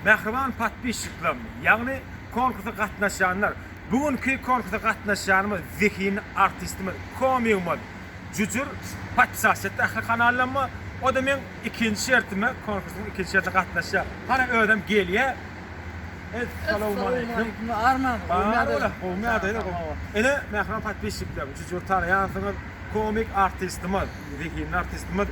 Mähriban podpisçiklerim, ýagny konkursa gatnaşýanlar, bu günki konkursa gatnaşýanymyz zehinli artistimiz, komigimiz Jüjür Patyşaşyt ähli kanallarymyz, o-da meň ikinji şertime, konkursyň ikinji şertine gatnaşýar. Hana özem gelýä. Essalawmaleýkim. Bar ola, gowmy ýagdaýlar? Ine, mähriban podpisçiklerim, Jüjüri tanaýansyňyz. Komik artistimiz, zehinli artistimiz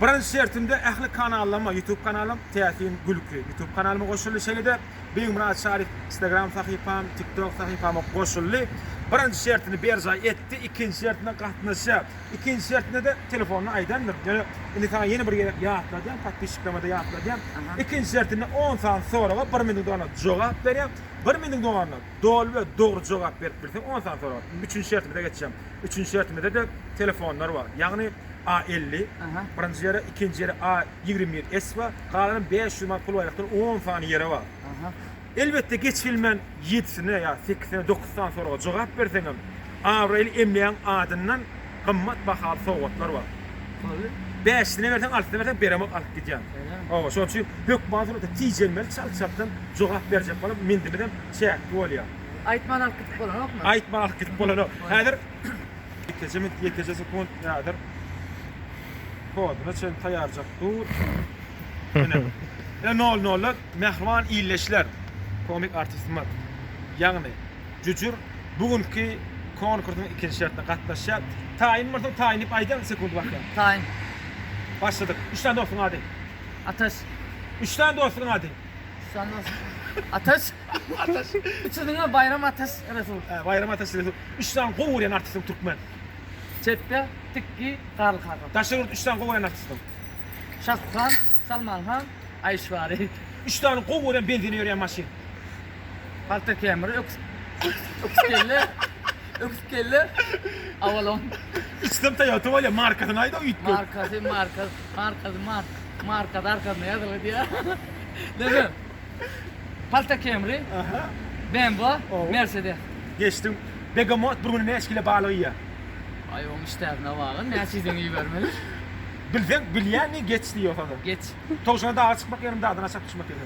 Birinji şertimde ähli kanallaryma, YouTube kanalym Täsin gülki YouTube kanalyma goşuldy, şeýle-de Begmyrat Şaryp Instagram sahypam, TikTok sahypama goşuldy. Birinji şertini berjaý etdi, ikinji şertine gatnaşýar. Ikinji şertinde-de telefonyny aýdandyryn. Ýöne indi saňa ýene bir gezek ýatladýan, podpisçiklerime-de ýatladýan. Ikinji şertinde on sany soraga bir meniň dogana jogap berýän. Bir meniň dogana doly we dogry jogap berip bilseň on sany soraga. Üçünji şertimize geçýän. Üçünji şertimizde-de telefonlar bar. Ýagny A elli, birinji ýere, ikinji ýere A ýigrimi ýedi S bar, galanam bäş ýüz manat pul baýrakdan on sany ýere bar. Elbetde geç gelmän ýedisine ýa sekizine dokuz sany soraga jogap berseňem, abraýly emlägiň adyndan gymmat bahaly sowgatlar bar. Bäşisine berseň, altysine berseň beremok alyp gidýän. Hawa, şonuň üçin hökman surata tijenmeli, çalt-çaltdan jogap berjek bolup, mendimizem çäkli bolýar. Aýtman alyp gidip bolanokmy? Aýtman alyp gidip bolanok. Häzir ýekeje minut, ýekeje sekunt ýadyr. Koduna çen taýarjak dur. Ine. Ine nol nolla mähriban illeşler. Komik artistimiz. Ýagny Jüjür bu günki konkursyň ikinji şertine gatnaşýar. Taýyn bolsa taýyn diýip aýdaň sekunt bakýan. Taýyn. Başladyk. Üç sany dostuň ady. Ataş. Üç sany dostuň ady. Sanmaz. Ataş. Ataş. Üçüsine Bayram Ataş Resul. He, Bayram Ataş Resul. Üç sany gowy görýän artistiň türkmen. Çepde Tikki Garly Hakan. Daşary ýurt üç sany gowy görýän artistiň. Şahrukh Khan, Salman Khan, Aýşwari. Üç sany gowy görýän benzine ýörýän maşyn. Halter kemeri, öküz. Öküz kelle. Öküz kelle. Avalon. Üçüsem Toyota bolýar, markasyny aýda üýtgep. Markasy, marka. Markasy mark. Markasy arkasyna ýazylyp diýýä. Dede. Palta Camry. Aha. BMW, Ow. Mercedes. Geçdim. Begemot bir güne näçe kilo balyk iýýär? Aý oň işdäsine bagyr, näçe iýseň iýibermeli. Bilseň, bilýäňmi geç diýýä ýogsada. Geç. Towşana daga çykmak ýerine dagdan aşak düşmek ýaly.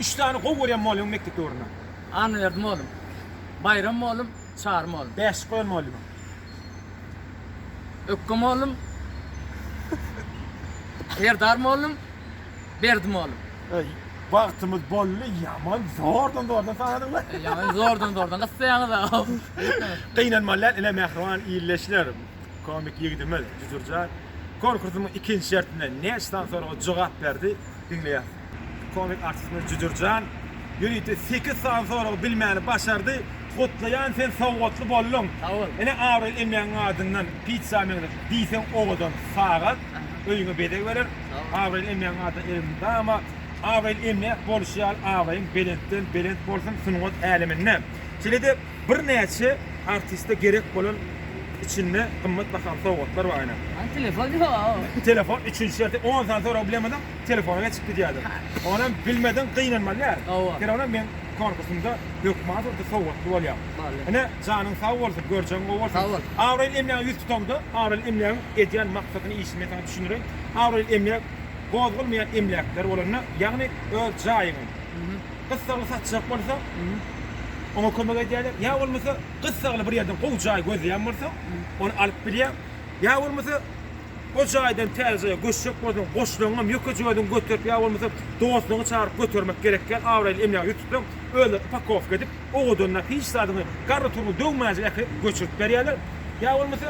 Üç sany gowy görýän mollygyň mekdep döwründen. Annaberdi mollum. Baýram mollum. Çary mollum. Bäşlik goýan mollygyň. Ökge mollum. Serdar mollum. Berdi mollum. Eý, wagtymyz boldy, ýaman zordan-zordan sanadyň la. Eý, ýaman zordan-zordan gysýaňyz-a. Gynanmaly däl, ine mähriban ildeşler, komik ýigidimiz Jüjürjan konkursymyň ikinji şertinde näçe sany soraga jogap berdi? diňleýäs. Komik artistimiz Jüjürjan ýörite sekiz sany soragy bilmäni başardy. Gutlaýan sen sowgatly bolduň. Sag bol. Ine abraýly emlägiň adyndan pizza meňzeş diýseň owadan sagat öýüňe bezeg berer. Abraýly emlägiň adyndan eliňi dama. Abraýly emläk boluşy ýaly abraýyň belentden belent bolsun sungat äleminde. Şeýle-de Birnäçe artiste gerek bolan içinde gymmat bahaly sowgatlar bar ine. Ol telefon ýok. Bu telefon üçünji şerti on sany sorag bilemediň, telefona geçip gidýärdiň. Onam bilmediň gynanmaly däl. Hawa. Ýöne onam meň konkursymda hökman şol bir sowgatly bolýar. Bolýar. Ine, janyň sag bolsun, görjegiň gowy bolsun. Sag bol. Abraýly emlägiň ýüz tutaňda, abraýly emlägiň edýän maksadyny, işini men saňa düşündireýin. Abraýly emläk gozgalmaýan emläkler bolanda, ýagny öz jaýyňy, Gyssagly satjak bolsaň, oňa kömek edýärler. Ýa bolmasa, gyssagly bir ýerden gowy jaý gözleýän bolsaň, ony alyp bilýäň. Ýa bolmasa, o jaýdan täze jaýa göçjek bolsaň, goşlaryňam, ýökejigazygam göterip ýa bolmasa dostlaryňy çagyryp götermek gerekýär. Abraýly emlägi ýutupsoň, özleri upakowka edip, owadanlap, hiç zadyňy, garry-turry döwmänjik äkidip göçürip berýärler. Ýa bolmasa,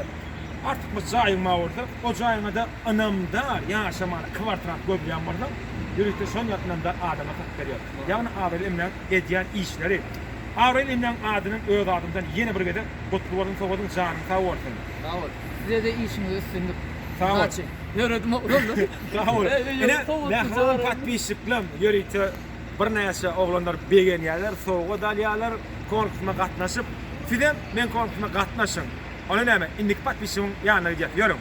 artykmaç jaýyň bar bolsa, o jaýyňa-da Ynamdar ýaşamaly kwartrat görýän bolsaň, ýörite şol ýaly ynamdar adama hak berýär. Ýagny Abraýly emlägiň edýän işleri. Abraýly emlägiň adynam öz adymdan ýene bir gezek gutly bolsun Sowadyň janyň sag bolsun. Sag bol. Sizede işiňizde üstünlik. Sag bol. Udaçi. Ýöredim oglanlar. Sag bol. Ine mähriban patpisçiklam ýörite birnäçe oglanlar begenýärler, sowgat alýarlar, konkursuma gatnaşyp. Sizem meň konkursuma gatnaşyň. Onda näme, indiki patpisçigiň ýanyna gidýäs. Ýörüň.